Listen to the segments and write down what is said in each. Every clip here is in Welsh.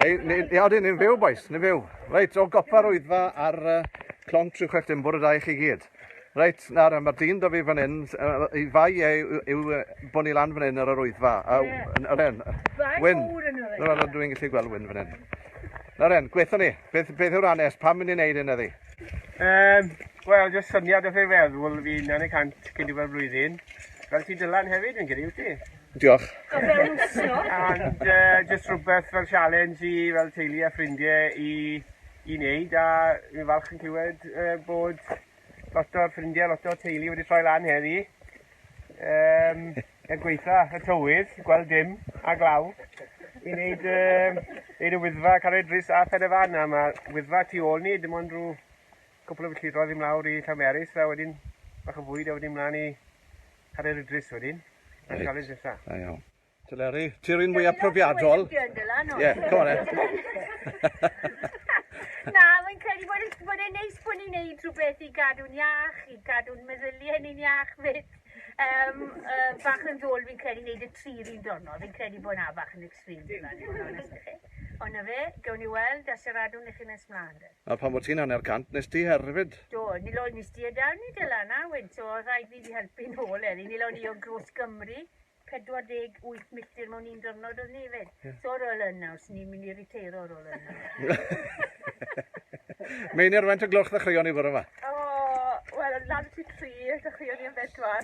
Ei, ni, ni, odyn, ni'n fyw, boys, ni'n fyw. Reit, o gopa'r wyddfa ar uh, clonc 36 dim bwrdd â i chi gyd. Reit, nawr, mae'r dyn da fi fan hyn, uh, i fai e yw, yw bod ni lan fan hyn ar yr wyddfa. A, yeah. Nawr en, Wyn, nawr en, dwi'n gallu gweld Wyn fan hyn. Nawr en, gweithio ni, beth, beth yw'r anes, pam mynd i'n neud hyn eddi? Um, Wel, jyst syniad o'ch ei feddwl fi'n yn y cant cyn diwedd blwyddyn. Fel ti dylan hefyd, fi'n credu, wyt ti? Diolch. And uh, just rhywbeth fel challenge i fel teulu a ffrindiau i, i wneud a fi'n falch yn clywed uh, bod lot o'r ffrindiau, lot o'r teulu wedi troi lan heddi. Um, er gweitha y tywydd, gweld dim a glaw i wneud, um, wneud y wyddfa Carreg Dris a Phen y Fan a mae wyddfa tu ôl ni dim ond rhyw cwpl o filltiroedd i mlawr i Llamerys a wedyn bach o fwyd a wedyn mlaen i Caryl Idris wedyn, a Reit. challenge nesa. Da iawn. Te Leri, ti'r un mwyaf profiadol. Ie, yeah, go on then. Na, mae'n credu bod, yn- bod e'n neis bod ni'n neud rhywbeth i gadw'n iach, i gadw'n meddyliau ni'n iach fyd. Um, uh, bach yn ddôl fi'n credu neud y tri run dwrnod, fi'n credu bod na bach yn Dwi'n difaru fod yn onest â chi. Ond 'na fe, gewn ni weld a siaradwn i chi nes mlaen de. A phan fo ti'n hanner cant nes ti herfyd. Do, ni lawn ni stie da ni Dylan a Wyn so oedd rhaid fi fi helpu nôl heddi. Ni lawn ni o Gros Gymru, 48 milltir mewn un dyrnod oedd ni efyd. So ar ôl hyn nawr, swn i'n mynd i riteiro ar ôl hyn Meinir faint o gloch ddechreuon ni fore ma? O, wel, lan ti tri, dechreuon ni am bedwar.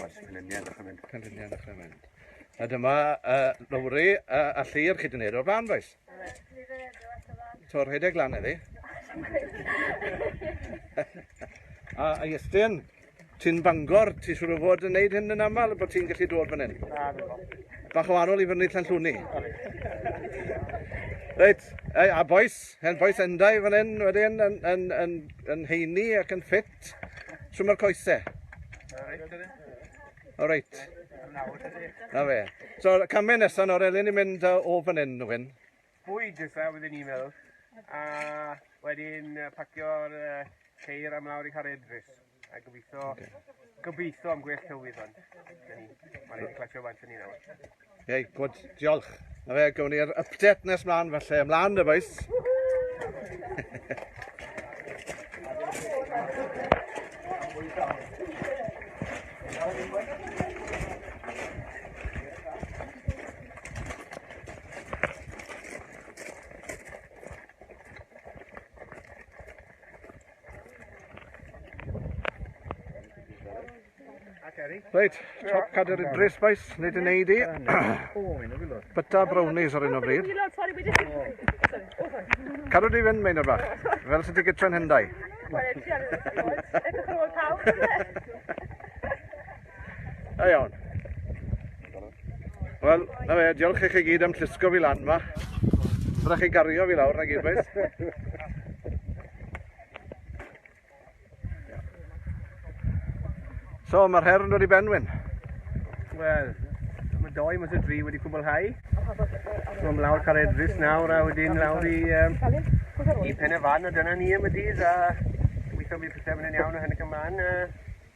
Oes, canlyniad a chyfynd. Canlyniad a chyfynd. A dyma uh, Lowri uh, a Llyr chi wedi gwneud o'r blaen, boes? Tor rhedeg lan eddi. a, a Iestyn, ti'n bangor, ti siŵr o fod yn neud hyn yn aml, bod ti'n gallu dod fan hyn? Na, Bach o anol i fyny Llanllwni. Reit, a boes, hen boes endau fan hyn wedyn yn, yn, yn, yn heini ac yn ffit. Trwm coese. O reit. Na fe. So, camau nesaf nawr, elin ni'n mynd o fan hyn, Nwyn? Bwyd nesaf, wedi'n ni'n meddwl. A wedyn pacio'r ceir am lawr i Harry Edris. A gobeithio, okay. gobeithio am gwell tywydd ond. Mae'n ei clasio fan ni nawr. Ie, gwyd, diolch. Na fe, gawn ni'r update nes mlaen, felly ymlaen y boes. Reit, top cadr i Dre Spice, nid yn ei di. Byta brownies ar un o bryd. Cadw di fynd, Meinor Bach, fel sydd wedi gytren hyndau. Da iawn. Wel, na fe, diolch i chi gyd am llusgo fi lan ma. Rydych chi gario fi lawr na gyd, boys. So, mae'r her yn dod i benwyn. Wel, mae doi mas o dri wedi cwblhau. So, mae lawr cael edrys nawr a wedyn lawr i, um, i pen y fan a dyna ni am y dydd a weithio mi pethau fynd yn iawn o hyn ac ymlaen. Uh,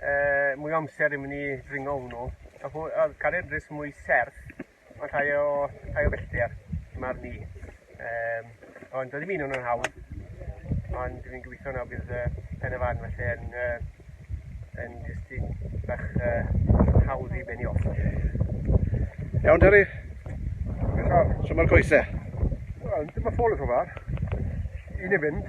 uh, mwy o amser i mynd i dringo hwnnw. A hw, a cariad rhys mwy serth, ond rhai o, rhai o bellter, mae'r ni. Um, ond doedd ddim un o'n hawdd, ond fi'n gobeithio na bydd uh, pen y fan felly yn, uh, yn jyst un bach uh, hawdd i benni off. Iawn, Derry? Iawn. So mae'r coesau? Wel, dyma ffôl y rhywbeth. Un i fynd.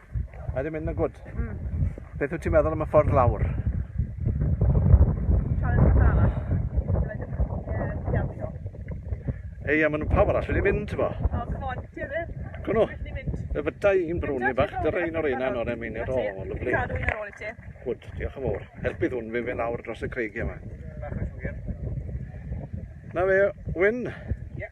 Mae wedi mynd yn gwrdd. Mm. Beth wyt ti'n meddwl am y ffordd lawr? Ei, a maen nhw pawb arall wedi mynd, bo. O, oh, come on, ti'n mynd. Gwno. Y fydau i'n brwn i bach, dy'r ein o'r un ano'r emin i'r ôl, o, lyflu. Cadw un ar ôl i ti. Gwyd, diolch yn fawr. Helpydd hwn fe fe lawr dros y creigiau yma. Na fe, Wyn. Ie.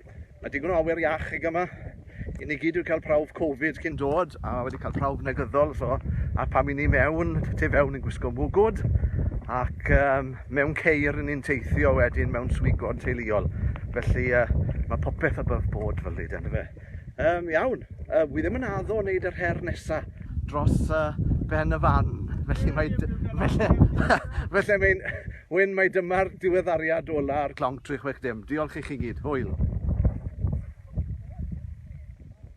Mae digon o awyr iach ag yma. I ni gyd wedi cael prawf Covid cyn dod a wedi cael prawf negyddol. So, a pam i ni mewn, tu fewn yn gwisgo mwgwd ac um, mewn ceir yn ni'n teithio wedyn mewn swigod teuluol. Felly uh, mae popeth above board fel lyd, ynddo fe. Um, iawn, uh, wi ddim yn addo o wneud yr her nesaf dros uh, ben y fan. Felly mae... Felly, felly mae'n... Wyn, mai dyma'r diweddariad ola'r. Clonc 360. Diolch i chi gyd. Hwyl.